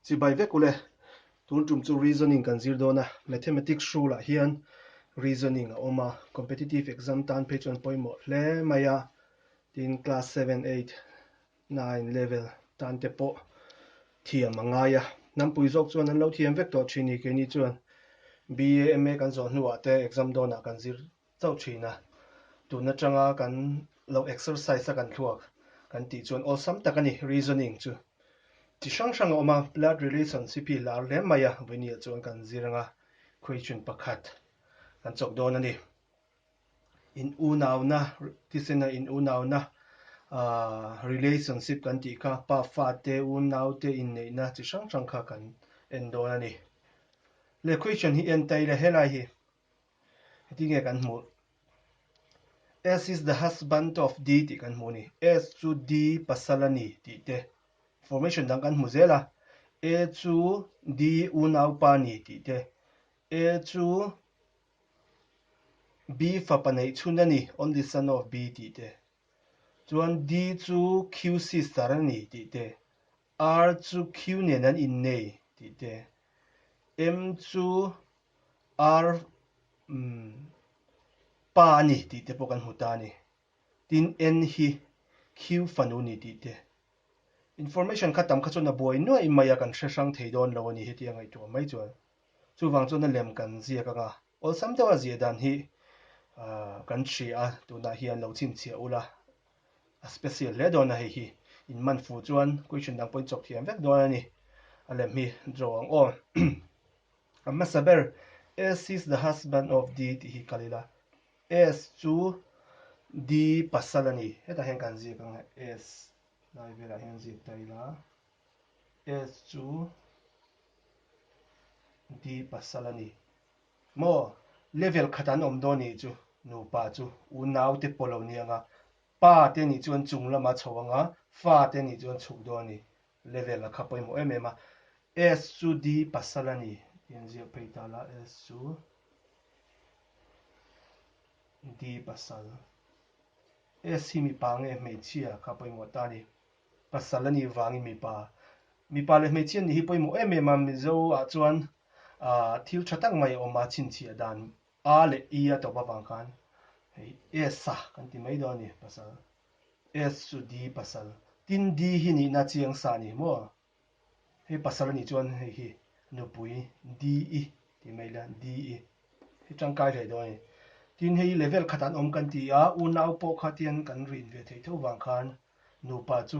Chibai vek u le. Tun tum chu reasoning kan zir dawn a, mathematics rule ah hian reasoning a awm a, competitive exam tan phei chuan pawimawh hle mai a, tin class seven, eight, nine level tan te pawh thiam a ngai a, nampui zawk chuan an lo thiam vek tawh thin ni, keini chuan BA, MA kan zawh hnu ah te exam dawn ah kan zir chauh thin a, tun atanga kan lo exercise a kan thluak kan tih chuan awlsam tak a ni reasoning chu chi hrang hrang a awm a, blood relationship hi lar hle mai a, Vainia chuan kan zir anga Christian pakhat kan chawp dawn a ni, in unauna tisina in unauna aah relationship kan tih kha pa fa te unau te inneihna chi hrang hrang kha kan en dawn a ni le Christian hi en ta ila helai hi. Heti nge kan hmuh, S is the husband of D tih kan hmuh a ni. S chu D pasal a ni tih te formation dang kan hmu zel a. A chu D unaupa a ni tih te, A chu B fapa neihchhun a ni, only son of B tih te, chuan D chu Q sister a ni tih te, R chu Q nen an innei tih te. M chu R pa a ni tih te pawh kan hmu ta a ni. Tin, N hi Q fanu ni tih te. Information kha tam kha chuan a buai nuaih mai a kan hre hrang thei dawn lo a ni heti a ngaih tuah mai chuan. Chuvang chuan a lem kan ziak anga awlsam deuha ziah dan hi kan hria tunah hian lo chhinchhiah ula A special hle dawn a hei hi. In man fu chuan question dang pawhin chawp thiam vek dawn a ni. A lem hi draw ang aw. A hmasa ber S is the husband of D tih hi kal ila. S chu D pasal a ni. Hetah hian kan ziak ang a S lai velah hian ziak ta ila. S chu D pasal a ni. Maw level khat an awm dawn nih chu nupa chu unau te pawh lo ni anga pa te nih chuan chung lama chho anga fa te nih chuan chhuk dawn a ni level a kha pawimawh em em a S chu di pasal a ni tih an ziak phei ta la S chu di pasal S hi mipa nge hmeichhia kha pawimawh ta a ni. Pasal a nih vangin mipa, mipa leh hmeichhia nih hi pawimawh em em a, Mizo ah chuan thil tha tak mai a awm a, chhinchhiah dan A leh E a tawp avang khan hei S a kan ti mai dawn a ni, pasal S chu D pasal tin D hi nihna chiang sa a ni hi maw? He pasal anih chuan hei hi nupui DE tih mai ila DE hi tangkai hlei dawn ani. Tin hei hi level khatah an awm kan ti a, unau pawh kha tian kan rin ve thei tho vang khan nupa chu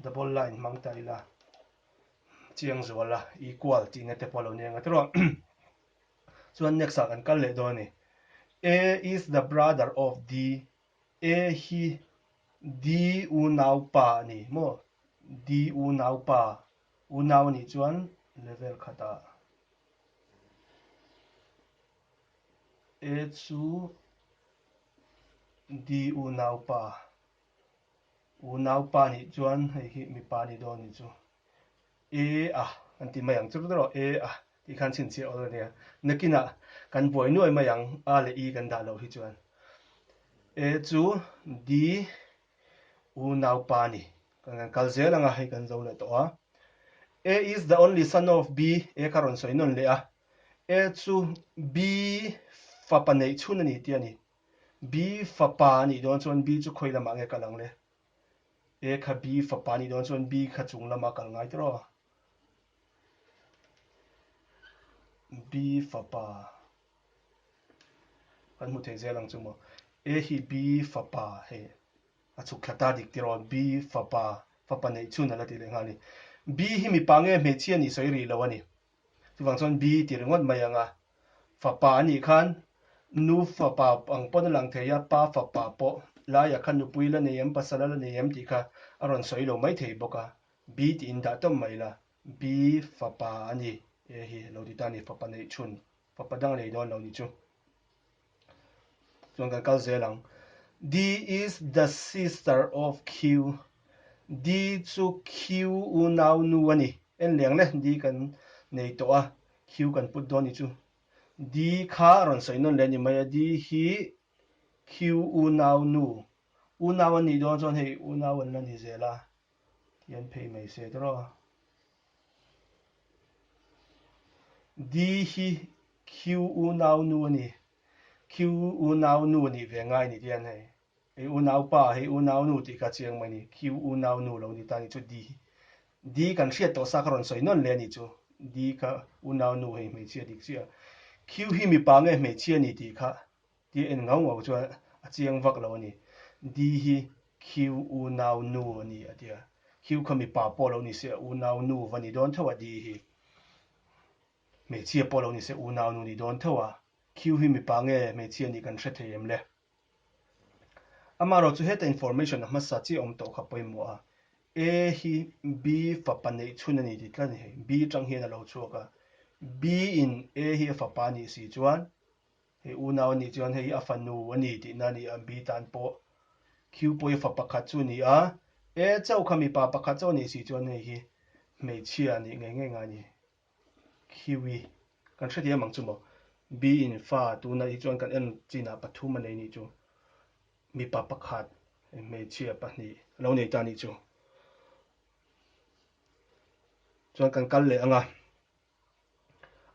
double line hmang ta ila chiang zual a equal tihna te pawh a lo ni anga trawh a. Chuan next ah kan kal leh dawn ani. A is the brother of D E hi Di unau pa a ni maw? Di unau pa, unau a nih chuan level khat ah E chu Di unau pa, unau pa a nih chuan hei hi mipa a ni dawn a ni chu. E a, kan ti mai ang chu rawh, e a tih khan chhinchhiah awl a nia. Nakinah kan buai nuai mai ang a leh i kan dah loh hi chuan. E chu D unaupa ni kan kan kal zel ang a, hei kan zo leh tawh a. A is the only son of B, A kha rawn sawi nawn leh a. A chu B fapa neih chhun a ni tih a ni. B fapa a nih dawn chuan B chu khawi lamah nge kal ang le? A kha B fapa nih dawn chuan B kha chung lam ah kal ngai tawh rua. B fapa kan hmu thei zel ang chu maw. A hi B fapa hei a chhuk thla ta dik tirh aw. B fapa, fapa neih chhun a la tih leh nghal a ni. B hi mipa nge hmeichhia a nih sawi rih lo a ni. Chuvang chuan bi ti ringawt mai ang a, fapa anih khan nu fapa ang pawn a lang thei a, pa fapa pawh laiah kha nupui la nei em, pasala la nei em tih kha a rawn sawi lo mai thei bawk a, bi tiin dah tawm mai la, bi fapa a ni e hi lo ti ta a ni, fapa neih chhun, fapa dang lei dawn lo ni chu. Chuan kan kal zel ang. D is the sister of Q. D chu Q unau nu a ni. En leng le D kan nei tawh a, Q kan put dawn ni chu. D kha a rawn sawi nawn leh ni mai a, D hi Q unau nu. Unau a nih dawn chuan hei unau an la ni zel a. Tih an phei mai se tawh a. D hi Q unau nu a ni. Q unau nu a nih ve ngai ni tih an hei. Hei unau pa hei unau nu tih ka chiang mai a ni. Q unau nu lo ni ta a nih chu D hi. D kan hriat tawh sa ka rawn sawi nawn leh a nih chu. D kha unau nu hei hmeichhia dik chiah a. Q hi mipa nge hmeichhia ni tih kha Tia en ngau ngau chuan a chiang vak lo a ni. Di hi Khieu u nau nu a ni a tia. Khieu kha mipa pawh lo ni se a u nau nu va ni dawn theuh a Di hi hmeichhia pawh lo ni se u nau nu ni dawn theuh a. Khieu hi mipa nge hmeichhia a nih kan hre thei em le. Amarawh chu heta information a hmasa chiah awm tawh kha pawimawh a. A hi B fapa neih chhun a ni ti tlat a ni. B tang hian a lo chhuak a. B in A hi a fapa a nih si chuan He unau anih chuan hei a fanu a ni tih na nih a bi tan pawh Khiupawi fa pakhat chu ni a, e chau kha mipa pakhat chau anih si chuan hei hi hmeichhia anih ngei ngei nga ni. Khiui, kan hre thiam ang chu maw? Bi in fa tuna hi chuan kan en chin ah pathum a nei nih chu, mipa pakhat hmeichhia pahnih a lo nei ta nih chu. Chuan kan kal leh ang a,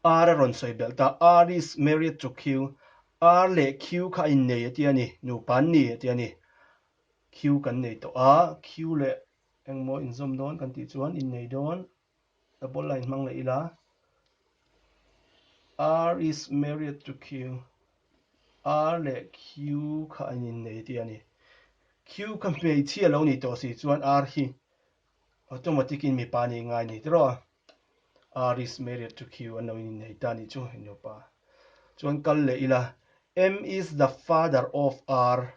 Ar a rawn sawi belh ta, Ar is married to Q. Ar leh Q kha a innei a tia a ni, nupa an ni a tia a ni. Q kan nei tawh a, Q leh engmaw inzawm dawn kan tih chuan innei dawn double line hmang leh ila, Ar is married to Q. Ar leh Q kha an innei a tia a ni. Q kha hmeichhia lo ni tawh si chuan Ar hi automatic in mipa a nih ngai a ni tiraw. Are is married to Q an lo inneih ta ni chu i nupa chuan kal leh ila M is the father of R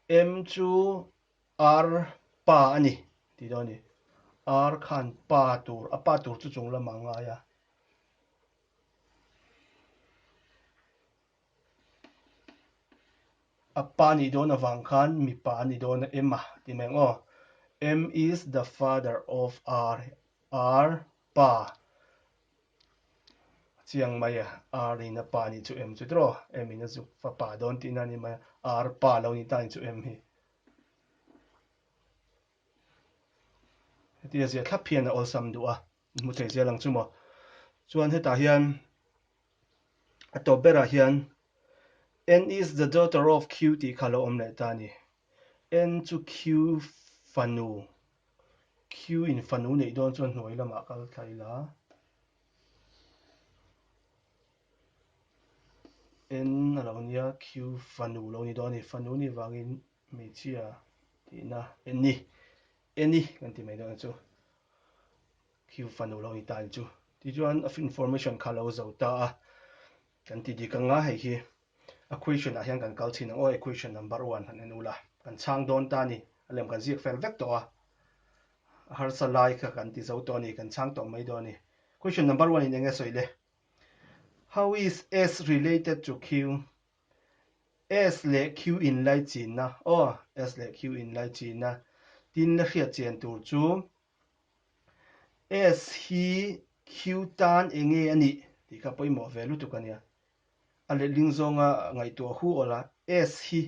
M chu R pa a ni ti dawn a ni R khan pa tur a pa tur chu chung lamah a ngai a. A pa nih dawn avang khan mipa a nih dawn a ema ti mai ang aw. M is the father of R. R pa a chiang mai a, R in a pa nih chu M chu tiraw M in a zuk fapa dawn tihna a ni mai a, R pa lo nih tan chu M hi. Hetia ziah thlap hian a awlsam duh a, hmu thei zel ang chu maw. Chuan hetah hian A tawp berah hian, N is the daughter of Q tih kha lo awm leh ta a ni. N chu Q fanu, Q in fanu neih dawn chuan hnuai lamah kal thla ila, N a lo nia, Q fanu lo ni dawn a ni, fanu ni vangin, Hmeichhia tihna Anny, Anny kan ti mai dawn a chu khiu fanu lo a ni ta ang chu. Tih chuan of information kha lo zo ta a, kan ti dik anga hei hi a question ah hian kan kal chhin ang aw e question number one han en ula kan chhang dawn ta a ni, a lem kan ziak fel vek tawh a, a harsa lai kha kan ti zo tawh a ni, kan chhang tawh mai dawn a ni. Question number one in eng nge sawi le? How is S related to Q? S leh Q in laichinna aw S leh Q in laichinna tin la hriat chian tur chu S hi Q tan eng nge a nih tih kha pawimawh ve lutuk a nia. A letling zawnga ngaihtuah hu awla S hi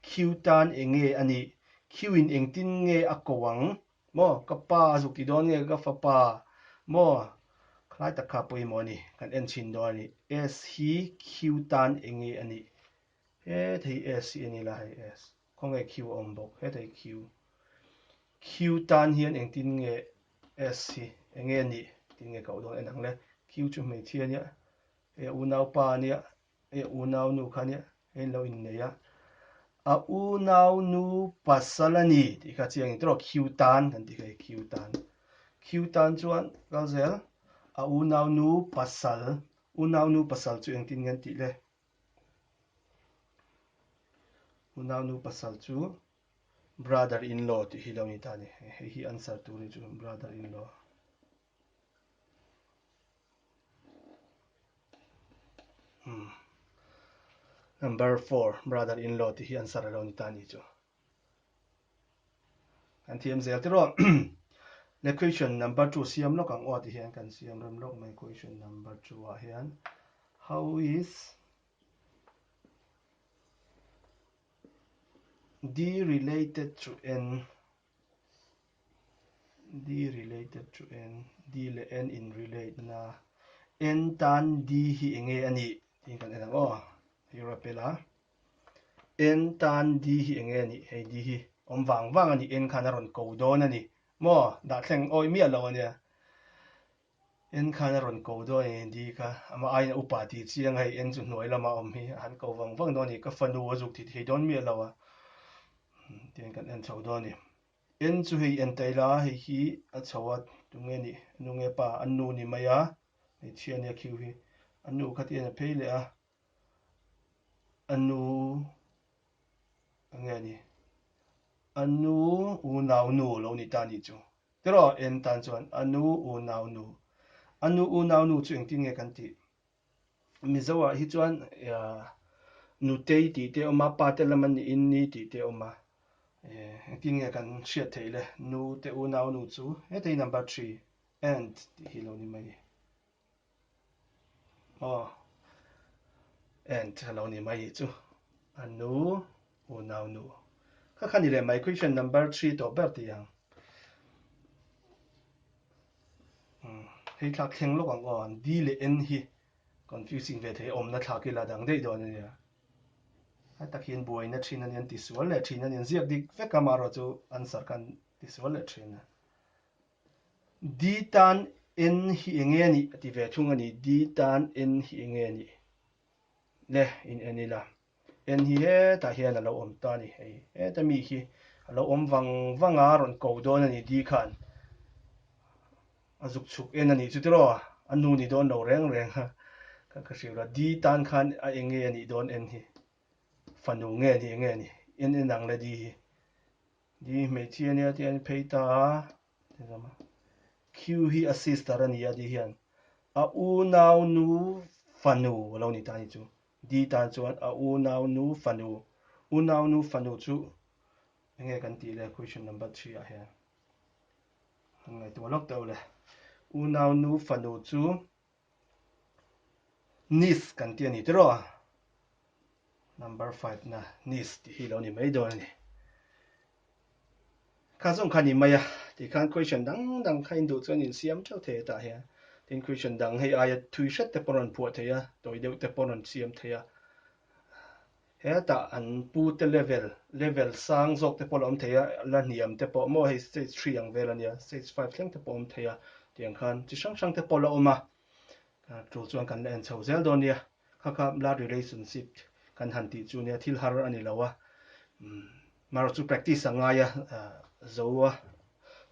Q tan eng nge a nih, Q in engtin nge a ko ang Maw, ka pa a zuk tih dawn nge ka fapa maw? Khlai tak kha pawimawh a ni, kan en chhin dawn a ni. S hi Q tan eng nge a nih? Hethei hi S hi a ni la, hei S. Khawnge Q a awm bawk, hethei Q. Q tan hian engtin nge S hi eng nge a nih? Tin nge koh dawn en ang le. Q chu hmeichhia nia, hei a unaupa nia, E u nau nu kha nia in lo in nei a, a u nau nu pasal a ni tih kha chiang in tawrh khiu tan kan ti hlei khiu tan khiu tan chuan kal zel a u nau nu pasal u nau nu pasal chu engtin nge an tih le u nau nu pasal chu brother in law tih hi lo ni ta ni hei hi answer tur hi chu brother in law Number four, brother in law ti hi answer alo ni ta ni chu. Kan thiam zel tiro. Le question number two siam lok ang o ti hian kan siam rem lok mai question number two a hian how is D related to N D related to N, D leh N in relate na, N tan D hi eng nge a nih tiin kan en ang aw, hei rawh pe la, N tan D hi eng nge a nih, hei D hi awm vang vang a ni, N khan a rawn ko dawn a ni, maw, dah thleng awi miah loh a nia, En khan a rawn ko dawn a ni di kha, amah aiin a upa ti chiang a, hei en chu hnuai lamah awm hi a han ko vang vang dawn a ni, ka fanu a zuk thih thei dawn miah lo a, tiang kan en chho dawn a ni. En chu hei en ta ila a, hei hi a chho a, tunge nih a nu nge pa, a nu ni mai a, hmeichhia nia khiu hi, a nu kha ti a nia phei leh a. a nu a nge ni a nu u nau nu lo ni ta ni chu tiraw en tan chuan a nu u nau nu a nu u nau nu chu engtin nge kan tih mizo ah hi chuan nutei tih te awma pate lam an ni in ni tih te awma engtin nge kan hriat theih le nu te u nau nu chu hetei number three and tih hi lo ni mai Aw and ka lo ni mai chu a nu u nau nu kha kha ni le my question number three tawh ber ti ang umm hei thlak thleng lawk ang aw d leh n hi confusing ve thei awmna thlak ila dang daih dawn ania a takin buaina thin ania an ti sual leh thin ania ziak dik vek a amaherawhchu answer khan ti sual leh thin a. Di tan en hi enge a nih? a ti ve thung a ni. Di tan en hi enge a nih? le in en ila. En hi hetah hian a lo awm ta a ni. Hei heta mi khi a lo awm vang vang a, rawn ko dawn a ni. Di khan a zuk chhuk en a nih chutiraw a, a nu ni dawn lo reng reng a, kha ka hrilh lo a. Di tan khan a enge a nih dawn en hi? Fanu nge a nih enge a ni? En en ang le di hi. Ni hmeichhia nia tia in phei ta a, Q hi a sister a ni a di hian a u nau nu fanu a lo ni ta ni chu, D tan chuan a u nau nu fanu, u nau nu fanu chu eng nge kan tih le question number three ah hian? Ngaihtuah lawk teh aw le, u nau nu fanu chu Nice kan ti a ni tiraw? Number five na Nice tih hi lo ni mai dawn a ni. Kha zawng kha ni mai a, ti khan question dang dang kha induh chuan insiam teuh thei hetah hian. Tin question dang hei aia thui hret te pawh rawn phuah thei a, tawi deuh te pawh rawn siam thei a. Hetah an pu te level, level sang zawk te pawh la awm thei a, la hniam te pawh maw hei stage three ang vel a nia, stage five thleng te pawh a awm thei a, tiang khan chi hrang hrang te pawh la awm a, tul chuan kan la en chho zel dawn nia, kha kha blood relationship kan han tih chu nia, thil har a ni lo a, marawh chu practice a ngai a, zo a,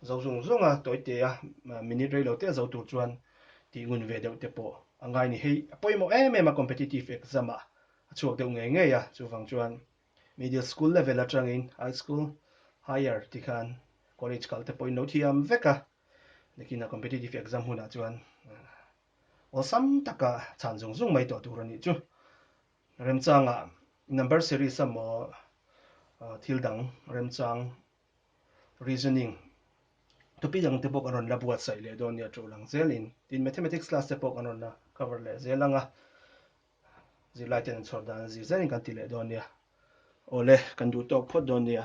zo zawng zawng a, tawi teh a, minute rei lo teh zo tur chuan tih ngun ve deuh te pawh a ngai a ni, hei a pawimawh em em a competitive exam ah. A chhuak deuh ngei ngei a, chuvang chuan middle school level atangin high school, higher tih khan college kal te pawhin lo thiam vek a. Nikina competitive exam hunah chuan awlsam taka chhan zung zung mai tawh tur a nih chu. Remchangah number series emaw, thil dang remchang, reasoning, topic ang te pawh kan rawn la buatsaih leh dawn nia to lang zelin. Tin, mathematics class te pawh kan rawn la cover leh zel ang a. zirlaiten an chhawr dan a, zir zaiin kan ti leh dawn nia, awle, kan duh tawk phawt dawn nia.